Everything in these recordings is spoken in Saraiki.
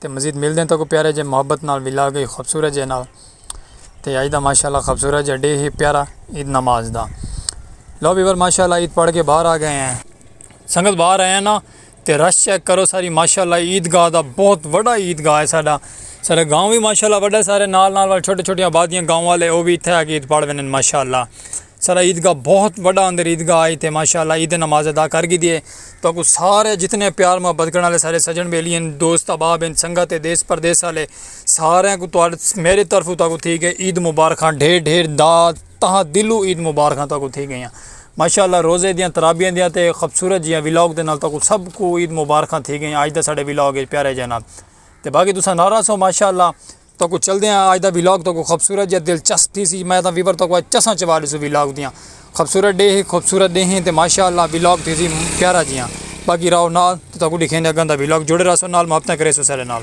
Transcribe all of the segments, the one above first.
تے مزید ملدے ہیں تاکہ پیارے جے محبت نال ولا گئی خوبصورت جے نال تے آج دا ماشاءاللہ خوبصورت جے ڈے ہی پیارا عید نماز دا لو ویور ماشاءاللہ عید پڑھ کے باہر آ گئے ہیں سنگت باہر آئے ہیں نا تے رش چیک کرو ساری ماشاءاللہ عید گاہ دا بہت وڈا عید گاہ ہے ساڈا سارے گاؤں بھی ماشاءاللہ وڈا سارے نال نال والے چھوٹے چھوٹے آبادیاں گاؤں والے او بھی اتھے آ کے عید پڑھ ویندے ماشاءاللہ سارا عیدگاہ بہت وڈا اندر عیدگاہ آئی تے ماشاءاللہ عید نماز ادا کر گی دیے تو اگو سارے جتنے پیار محبت کرنے والے سارے سجن بیلی ہیں دوست احباب ہیں سنگت ہیں دیس پردیس والے سارے کو تو میرے طرف تو اگو تھی گئے عید مبارکاں ڈھیر ڈھیر دا تہاں دلو عید مبارکاں تو اگو تھی گئے ہیں ماشاءاللہ روزے دیاں ترابیاں دیاں تے خبصورت جیاں ولاگ دے نال تو اگو سب کو عید مبارکاں تھی گئے ہیں آج دا سارے ولاگ پیارے جانا تے باقی تساں نارا سو ماشاءاللہ تہاکوں چلدے آں آج دا ویلاگ تہاکوں خوبصورت یا دلچسپ تھی سی میں تاں ویور تہاکوں آج چساں چوا ڈیسوں ویلاگ دیاں خوبصورت ڈے ہی خوبصورت ڈے ہیں تے ماشاءاللہ ویلاگ تھی سی پیارا جیاں باقی راو نال تے تہاکوں ڈکھیں دے اگن دا ویلاگ جوڑے رہسو نال محبتاں کریسو سارے نال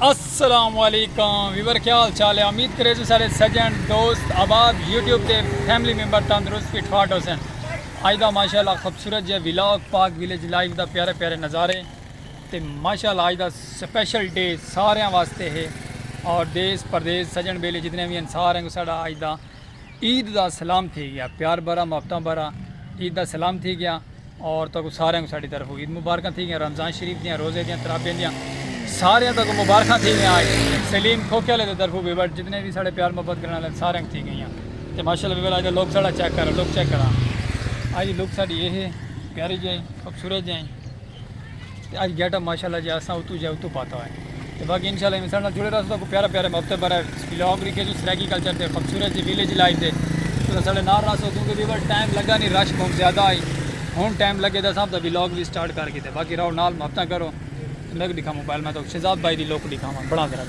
السلام علیکم ویور کیا حال چال ہے امید کرے جو سارے سجن دوست آباد یوٹیوب تے فیملی ممبر تندرست فٹ فاٹ ہو سن آج دا ماشاءاللہ خوبصورت جے ویلاگ پاک ویلیج لائیو دا پیارے پیارے نظارے تے ماشاءاللہ آج دا سپیشل ڈے سارے واسطے ہے اور دیس پردیس سجن بیلے جتنے بھی انسار ہیں سارا آج دا عید دا سلام تھی گیا پیار بھرا محبتاں بھرا عید دا سلام تھی گیا اور تہاکوں ساریاں کوں ساڈی طرفوں عید مبارکاں تھی گیاں رمضان شریف دیاں روزے دیاں تراویح دیاں ساریاں تہاکوں مبارکاں تھی گیاں آج سلیم کھوکھے والے دی طرفوں بھی بٹ جتنے بھی ساڈے پیار محبت کرن والے ساریاں کوں تھی گئیاں تے ماشاءاللہ ویلا اج لوک ساڈا چیک کر لوک چیک کراں اج لوک ساڈی اے ہے پیاری جائی خوبصورت جائی تے اج گیٹ اپ ماشاء اللہ جے اساں اتو جے اتو پاتا ہوئے تے باقی انشاء اللہ ساڈے نال جڑے رہو تساں کو پیارا پیارا وقت بھر ولاگ لکھے جو سرائیکی کلچر تے خوبصورت جی ویلیج لائف دے تساں ساڈے نال رہو کیونکہ ویور ٹائم لگا نہیں رش بہت زیادہ آئی ہن ٹائم لگے دا صاحب دا ولاگ بھی سٹارٹ کر کیتے باقی رہو نال محبتاں کرو میں بھی دکھاں موبائل میں تو شہزاد بھائی دی لوک دکھاواں بڑا ذرا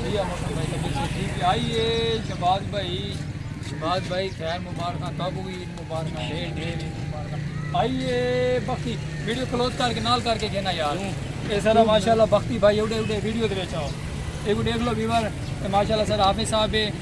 بھیا موسم بھائی طبیعت سے ٹھیک ہے آئیے شہباز بھائی شہباز بھائی خیر مبارکاں تب ہوئی عید مبارکاں ڈھیر ڈھیر عید مبارکاں آئیے بختی ویڈیو کلوز کر کے نال کر کے گھنا یار اے سارا ماشاءاللہ بختی بھائی اوڈے اوڈے ویڈیو دے وچ آؤ ایک دیکھ لو ویور ماشاءاللہ سر حافظ صاحب ہے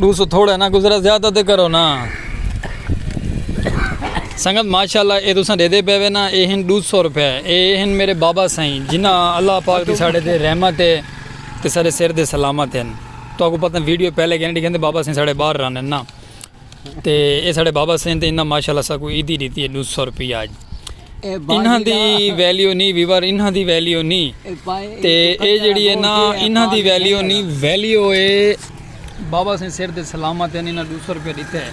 ڈو سو تھوڑا نا گزرا زیادہ تے کرو نا سنگت ماشاءاللہ اے تساں دے دے پے وے نا اے ہن ڈو سو روپے اے ہن میرے بابا سائیں جنہ اللہ پاک دی ساڑے دے رحمت ہے تے سارے سر دے سلامت ہیں تو اگو پتہ ویڈیو پہلے گئے ڈی گھندے بابا سائیں ساڑے باہر رہنے نا تے اے ساڑے بابا سین تے انہاں ماشاءاللہ ساکو عیدی ڈیتی ہے ڈو سو روپیہ آج انہاں دی ویلیو نی ویور انہاں دی ویلیو نی تے اے جڑی ہے نا انہاں دی ویلیو نی ویلیو اے بابا سین سر دے سلامت ہیں انہاں ڈو سو روپیہ ڈیتے ہیں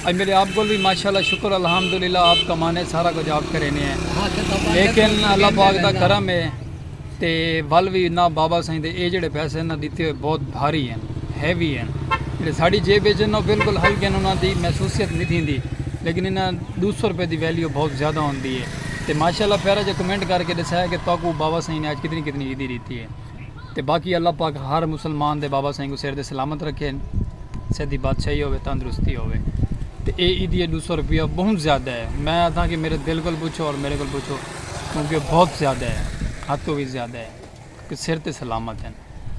اج میرے آپ گل بھی ماشاءاللہ شکر الحمدللہ آپ کمانے سارا کچھ آپ کرینے ہیں لیکن اللہ پاک دا کرم ہے تے ول وی نہ بابا سائیں دے اے جیڑھے پیسے انہاں ڈتے ہوئے بہت بھاری ہن ہیوی ہن جیڑھے ساڈی جیب اچ ہن او بالکل ہلکے ہن انہاں دی محسوسیت نی تھیندی لیکن انہاں ڈو سو روپے دی ویلیو بہت زیادہ ہوندی ہے تے ماشاءاللہ پیارا جیا کمنٹ کر کے ڈسایا کہ تہاکوں بابا سائیں نے اج کتنی کتنی عیدی ڈتی ہے تے باقی اللہ پاک ہر مسلمان دے بابا سائیں کوں سر تے سلامت رکھے سر دی بادشاہی ہوے تندرستی ہوے تے اے عیدی ڈو سو روپیہ بہت زیادہ ہے میں آکھاں کہ میرے دل کول پوچھو اور میرے کول پوچھو کیونکہ بہت زیادہ ہے حد تو وی زیادہ ہے کہ سر تے سلامت ہیں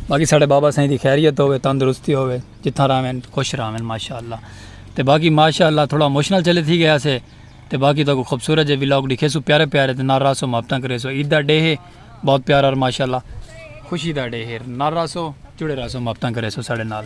باقی ساڑے بابا سائیں دی خیریت ہوئے تندرستی ہوئے جتھاں راہیں خوش راہیں ماشاءاللہ تے باقی ماشاءاللہ تھوڑا موشنل چلے تھی گیا سے تے باقی تو کو خوبصورت جے ویلاگ دکھے سو پیارے پیارے تے نار راسو محبتاں کرے سو عید دا ڈے ہے بہت پیارا اور ماشاءاللہ خوشی دا ڈے ہے نار راسو جڑے راسو محبتاں کرے سو ساڑے نال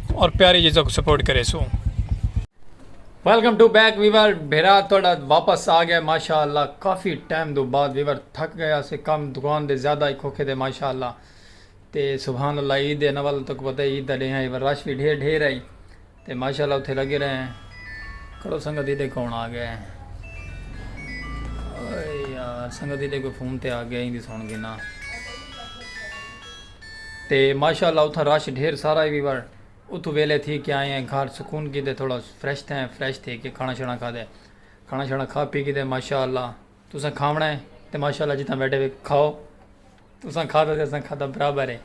اور پیاری جیزا کو سپورٹ کرے so welcome to back viewer بھیرا تھوڑا واپس آ گیا ماشاءاللہ کافی ٹائم دو بعد ویور تھک گیا سے کم دکان دے زیادہ ہی کھوکھے دے ماشاءاللہ تے سبحان اللہ عید دے نول تک پتہ عید دا ڈیہ ہے رش بھی ڈھیر ڈھیر ہے تے ماشاءاللہ اتھے لگے رہے ہیں کرو سنگت ہی دے کون آ گئے ہیں یار سنگت ہی دے کوئی فون تے آ گیا ہی دی سن گنا تے ماشاء اللہ اتھاں رش ڈھیر سارا ہے وی ور اتھوں ویلے تھی کے آئے ہیں گھر سکون کیتے تھوڑا فریش تھے ہیں فریش تھی کے کھانا شانا کھا دے کھانا شانا کھا پی کیتے ماشاء اللہ تساں کھاونا ہے تے ماشاء اللہ جتنا بیٹھے ہوئے کھاؤ تساں کھا دے تساں کھا دے برابر ہے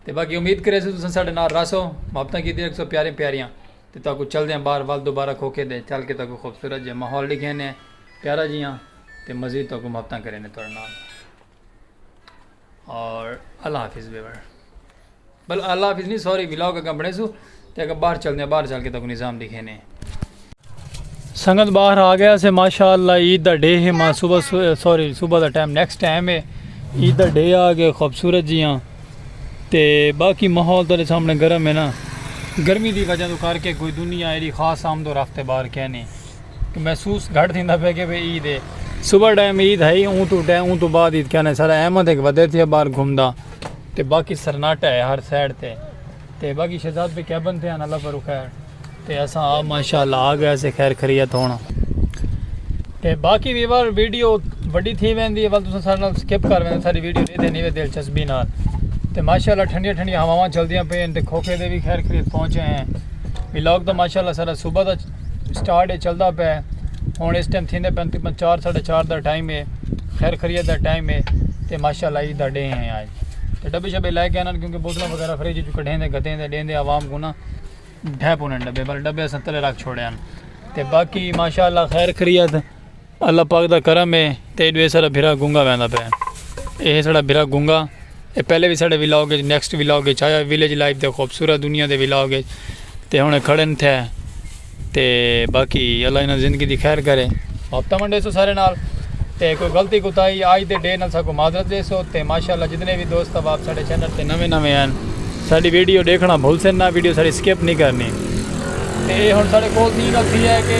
تے باقی امید کرے سے تساں ساڈے نال راسو محبتاں کیتے رکھسو پیارے پیاریاں تے تا کو چل دے ہیں بار وال دوبارہ کھو کے دے چل کے تا کو خوبصورت جے ماحول لکھے نے پیارا جیاں تے مزید تا کو محبتاں کرے نے تھوڑے نال اور اللہ حافظ ویور بل اللہ حافظ نہیں سوری ولاگ اگا بڑے سو تے اگا باہر چل دیں باہر چل کے تکو نظام دکھے نے سنگت باہر آ گیا سے ماشاءاللہ عید دا ڈے ہے ماں صبح سوری صبح دا ٹائم نیکسٹ ٹائم ہے عید دا ڈے آ گئے خوبصورت جی ہاں تے باقی ماحول تیرے سامنے گرم ہے نا گرمی دی وجہ تو کر کے کوئی دنیا ایری خاص آمد و رفت بار کہنے محسوس گھٹ تھیندا پیا کہ بھئی عید ہے صبح ٹائم عید ہئی اوں توں ٹائم اوں توں بعد عید کہنے سارا احمد ایک ودے تھیا باہر گھومدا تے باقی سرناٹا ہے ہر سائیڈ تے تے باقی شہزاد پہ کیبن تھے اللہ پر خیر تے اساں آ ماشاءاللہ آ گئے سے خیر خریت ہونا تے باقی بھی بار ویڈیو وڈی تھی ویندی ہے ول تساں سارے نال سکپ کر ویندے ساری ویڈیو دے دے نہیں وے دلچسپی نال تے ماشاءاللہ ٹھنڈیاں ٹھنڈیاں ہواواں چلدیاں پئیں تے کھوکھے دے بھی خیر خریت پہنچے ہیں ولاگ تو ماشاءاللہ سارا صبح دا سٹارٹ ہے چلدا پے ہن اس ٹائم تھیندے پن تقریبا چار ساڑھے چار دا ٹائم ہے خیر خیریت دا ٹائم ہے تے ماشاءاللہ عید دا ڈے ہے آج تے ڈبے شبے لے کے آنن کیونکہ بوتلاں وغیرہ فریج وچوں کڈھیں دے گھتیں دے ڈیندے عوام کو نا ڈھے پونے ڈبے بل ڈبے اساں تلے رکھ چھوڑے ہن تے باقی ماشاءاللہ خیر خیریت اللہ پاک دا کرم ہے تے ایڈو ایسڑا بھرا گونگا ویندا پے اے ایسڑا بھرا گونگا اے پہلے وی ساڈے ولاگ وچ نیکسٹ ولاگ وچ آیا ویلیج لائف دے خوبصورت دنیا دے ولاگ وچ تے ہن کھڑن تھے تے باقی اللہ انہاں زندگی دی خیر کرے ہفتہ منڈے سو سارے نال تے کوئی غلطی کوتاہی آج دے ڈے نال ساکو معذرت دے سو تے ماشاءاللہ جتنے بھی دوست اب آپ ساڈے چینل تے نویں نویں ہیں ساڈی ویڈیو دیکھنا بھول سن نہ ویڈیو ساڈی سکپ نہیں کرنی تے ہن ساڈے کول تھی گل تھی ہے کہ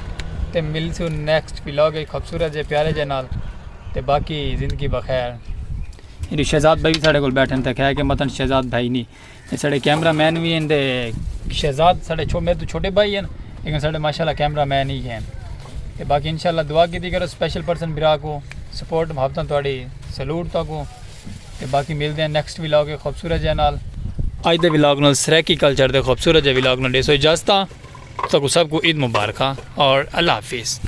تے ملسوں نیکسٹ ولاگ ایک خوبصورت جے پیارے جے نال تے باقی زندگی بخیر یہ شہزاد بھائی بھی ساڑھے کو بیٹھن تک ہے کہ مطلب شہزاد بھائی نہیں یہ ساڑھے کیمرہ مین بھی ہیں دے شہزاد ساڑھے چھو میرے تو چھوٹے بھائی ہیں لیکن ساڑھے ماشاءاللہ کیمرہ مین ہی ہیں تے باقی انشاءاللہ دعا کی دی کرو سپیشل پرسن برا کو سپورٹ محبتاں توڑی سلوٹ تو کو تے باقی ملدے ہیں نیکسٹ ولاگ اے خوبصورت جے نال اج دے ولاگ نال سرائیکی کلچر دے خوبصورت جے ولاگ نال ڈیسو اجازت تاں کو سب کو عید مبارکاں اور اللہ حافظ